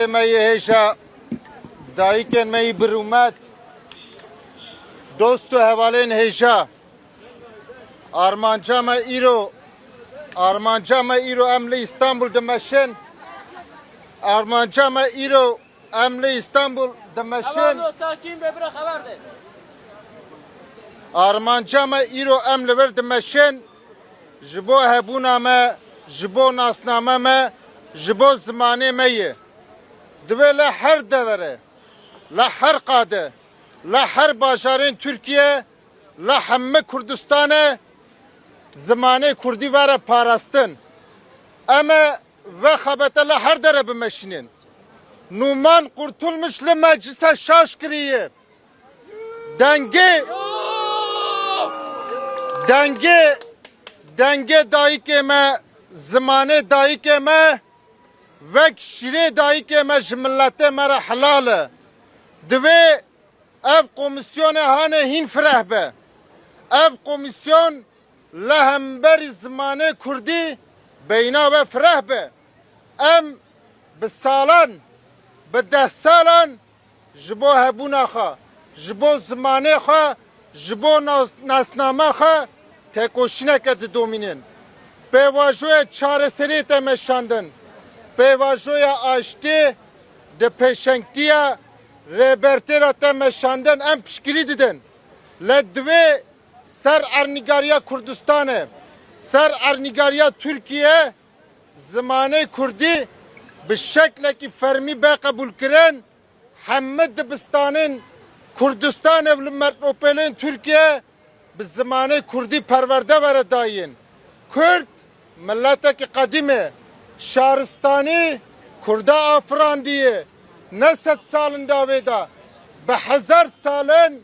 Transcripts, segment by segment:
Me yê hêşa dayikên me yî bir û met, dost û hevalên hêşa. Armanca me îro, armanca me îro em li Îstanbul dimeşin. Armanca me îro em li Îstanbul dimeşin. Armanca me îro em li vir dimeşin. Ji bo hebûna me, ji bo nasname me, ji bo zimanê me ye. Divê li her devere, li her qade, li her bajarên Tirkiye, li hemmi Kurdistanê zimanê Kurdî vere parastin. Em ê ve xebete li her dere bimeşînin. Nûman Qurtulmuş li meclisa şaş kirî ye. Dengê dengê dengê dayikê me zimanê dayikê me vek şirê dayikê me ji miletê me re helal e. Divê ev komîsyonê hanê hîn fireh be. Ev komîsyon li hemberî zimanê kurdî beyna we fireh be. Em bi salan, bi deh salan Ji bo hebûna xwe, ji bo zimanê xwe, ji bo nasnama xwe tekoşîneke didomînin. Pêvajoyê çareseriyê tê meşandin. Pêvajoya aştî di pêşengtiya Rêbertê de tê meşandin. Em piştgirî didin. Lê divê ser ernîgariya Kurdistanê, ser ernîgariya Tirkiyeyê Zimanê kurdî bi şeklekî fermî be qebûlkirin, heme dibistanên Kurdistanê û li mertnopêlên Tirkiyeyê bi zimanê kurdî perwerde were dayîn. Kurd miletekî qedîm e. Şaristanî kurda afirandîye, ne sed sal in davê de, bi hezar sal in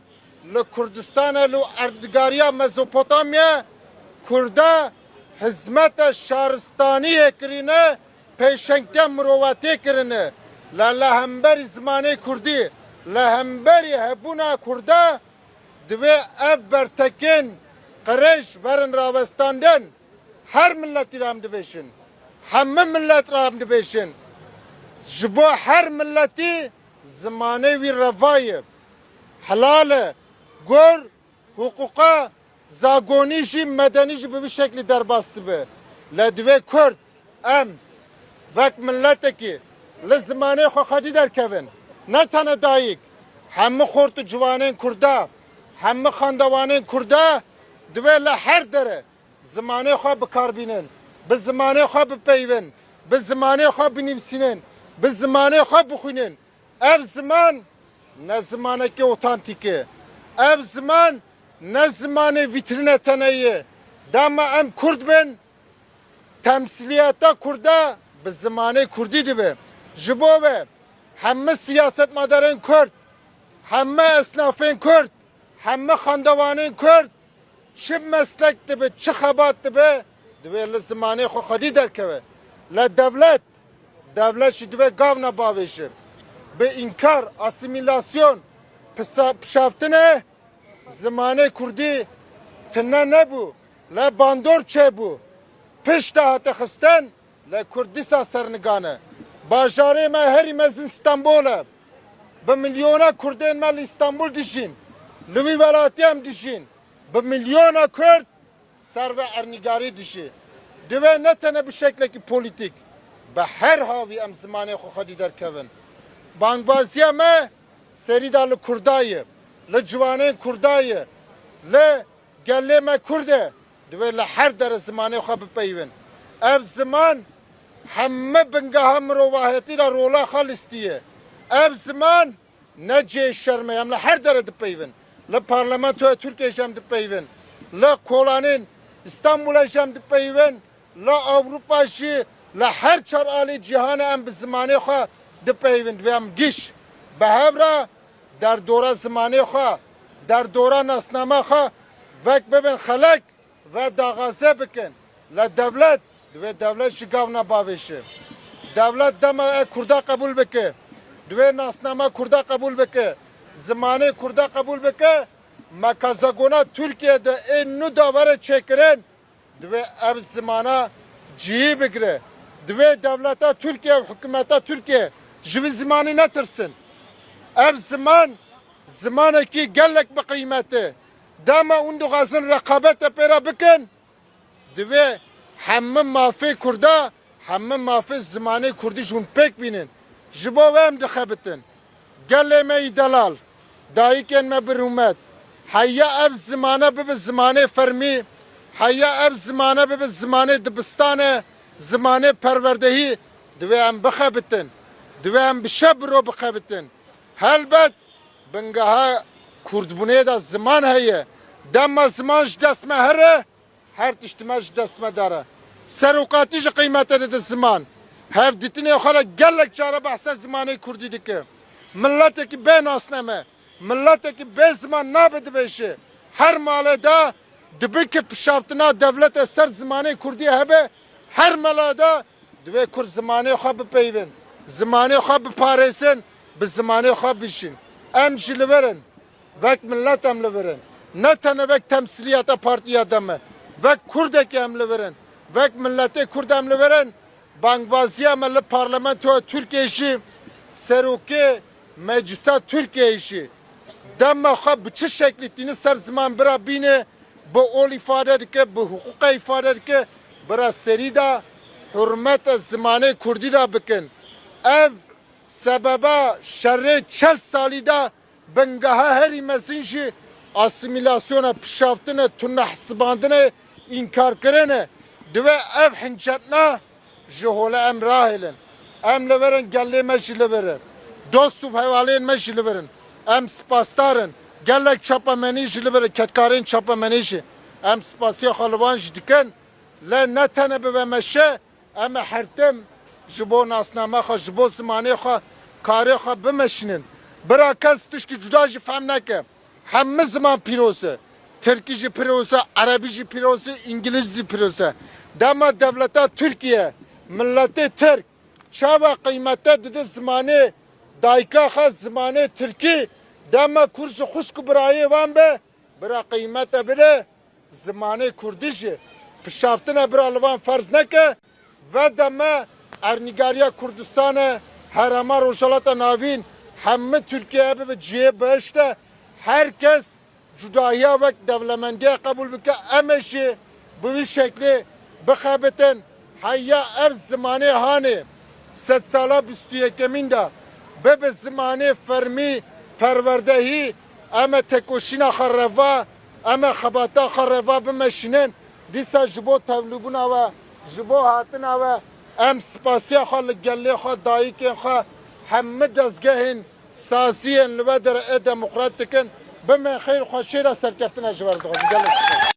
Li Kurdistanê li erdnigariya Mezopotamyê Kurde hizmete şaristaniyê kirîne, pêşengke mirovetiyê kirine. Lê li hemberî zimanê Kurdî, li hemberî hebûna Kurde divê ev bertekên qirêj verin rawestandin. Her miletî re em dibêjin, hemû milet re em dibêjin, ji bo her miletî zimanê wî reva ye. helale, gur, huquqa zagonî jî medenî jî bi vî şeklî derbas dibe. Le divê kurd em wek miletekî li zimanê xwe xwedî derkevin. Ne tene dayik, hemû xort û ciwanên kurda, hemû xandewanên kurda divê li her dere zimanê xwe bikarbînin, bi zimanê xwe bipeyivin, bi zimanê xwe binivîsînin, bi zimanê xwe bixwînin Ev ziman ne zimanekî otantîk e. Ev ziman ne zimanê vîtrîne tene ye. Dema em kurd bin, temsîliyeta kurde bi zimanê kurdî dibe. Ji bo ve heme siyasetmadarên kurd, heme esnafên kurd, heme xandewanên kurd çi meslek dibe, çi xebat dibe, Divê li zimanê xwe xwedî derkeve. Lê dewlet, dewlet jî divê gav ne bavêjin. Bi înkar, asîmîlasyon, pişaftinê zimanê kurdî tune nebû, lê bandor çêbû. Pişta hate xistin, lê kurd dîsa sernigan e. Bajarê me herî mezin Stenbol e. Bi milyona kurdên me li Stenbol dijîn. Li wî welatî em dijîn. Bi milyona kurd Ser ve ernîgarî dijî divê ne tene bi şeklekî polîtîk, bi her havî em zimanê xwe xwedî derkevin. Bangvaziya me serî da li Kurda ye, li ciwanên Kurda ye, li gelê me Kurd e, divê li her dere zimanê xwe bipeyivin. Ev ziman heme bingeha mirovahiyetî ra rola xwe listîye. Ev ziman Ne cihê şerm e, em li her dere dipeyivin. Li Parlamentoya Tirkiyeyê jî em dipeyivin. Li kolanên Îstanbûlê jî em dipeyivin. Li Ewropa jî, li her çar aliyê cîhanê em bi zimanê xwe dipeyivin. Divê em giş bi hev re derdora zimanê xwe, derdora nasnama xwe vek bibin xelek. Ve daxaze bikin le dewlet divê dewlet ji gav ne bavêşi. Dewlet dema e kurda qebûl bike, divê nasnama kurda qebûl bike, zimanê kurda qebûl bike, me ka zegona Tirkiyeyê de ê nû da were çêkirin, divê ev zimana cihî bigire. Divê dewleta Tirkiye û hikûmeta Tirkiye ji vî zimanî netirsin. Ev ziman zimanekî gelek bi qîmet e. Dema hûn dixwazin reqabet ê pêra bikin, divê hemû mafê kurda, hemû mafê zimanê kurdî ji hûn pêk bînin. Ji bo wê em dixebitin. Gelê me yî delal, dayikên me bi rûmet. Heya ev zimane bibe zimanê fermî, heya ev zimane bibe zimanê dibistanê, zimanê perwerdehî. Divê em bixebitin. Divê em bi şev bi roj bixebitin. Helbet Bingeha kurdbûnê de ziman heye. Dema ziman ji dest me here, her tişt me ji dest me dere. Serokatî jî qîmete dide ziman. Hevdîtinê xwe de gelek care behsa zimanê kurdî dike. Miletekî bê nasname, miletekî bê ziman nabe dibêje. Her malê de dibe ku pişaftina dewlete ser zimanê kurdî hebe, her mele de Divê kurd zimanê xwe bipeyivin, zimanê xwe biparêsin, bi zimanê xwe bijîn. Em jî li vir in. Vek milet em li vir in. Ne tenê vek temsîliyeta partiya DEM e. Vek kurdekê em li vir in. Vek miletê kurd em li vir in. Bangvaziya me li parlamentoya Tirkiyê jî serokê Meclisa Tirkiyeyê jî dema xwe bi çi şeklî tînin ser ziman bira bînê bi ol îfade dike, bi hiqûqe îfade dike, bira serî da hurmete zimanê kurdî da bikin. Ev sebeba şerê çel salî da bingeha herî mezin jî asîmîlasyona, pişaftinê, tunehesibandinê, înkarkirinê. Divê ev hincetna Ji holê em rahêlin. Em li vir in, gelê me jî li vir e. Dost û hevalên me jî li vir in. Em spasdar in. Gelek çapemenî jî li vir e, kedkarên çapemenê jî. Em spasiya xwe li wan jî dikin. Lê ne tenê bi vê meşê, em ê hertim ji bo nasname xwe, ji bo zimanê xwe karê xwe bimeşînin. Bira kes tiştî cuda jî fehm neke. Heme ziman pîroz e. Tirkî jî pîroz e, erebî jî pîroz e, îngilîz jî pîroz e. Dema dewleta Tirkîye, miletê Tirk çawa qîymete dide zimanê dayika xwe, zimanê Tirkî, dema Kurd jî xwişk û birayê wan be, bira qîymete bide zimanê Kurdî jî. Pişaftine bira li van ferz neke. Veda me Ernîgariya Kurdistanê, Herêma Rojhilata Navîn, heme Tirkiyeyê bibe cihê behişt de, her kes cudahiya wek dewlemendiyek qebûl bike, em ê jî bi wî şeklê bixebitin. Heya ev zimanê hanê sedsala bîst û yekemîn de bibe zimanê fermî, perwerdehî, em ê tekoşîna xwe reva, em ê xebatan xwe reva bimeşînin. Dîsa ji bo tevlîbûna we, ji bo hatina we em spasiya xwe li gelê xwe, dayikên xwe, hemû dezgehên sazî yên li we de re ê demokrat dikin. Bimên xêr, xweşêra serkeftina ji we re dixwazin. Gelek spasî.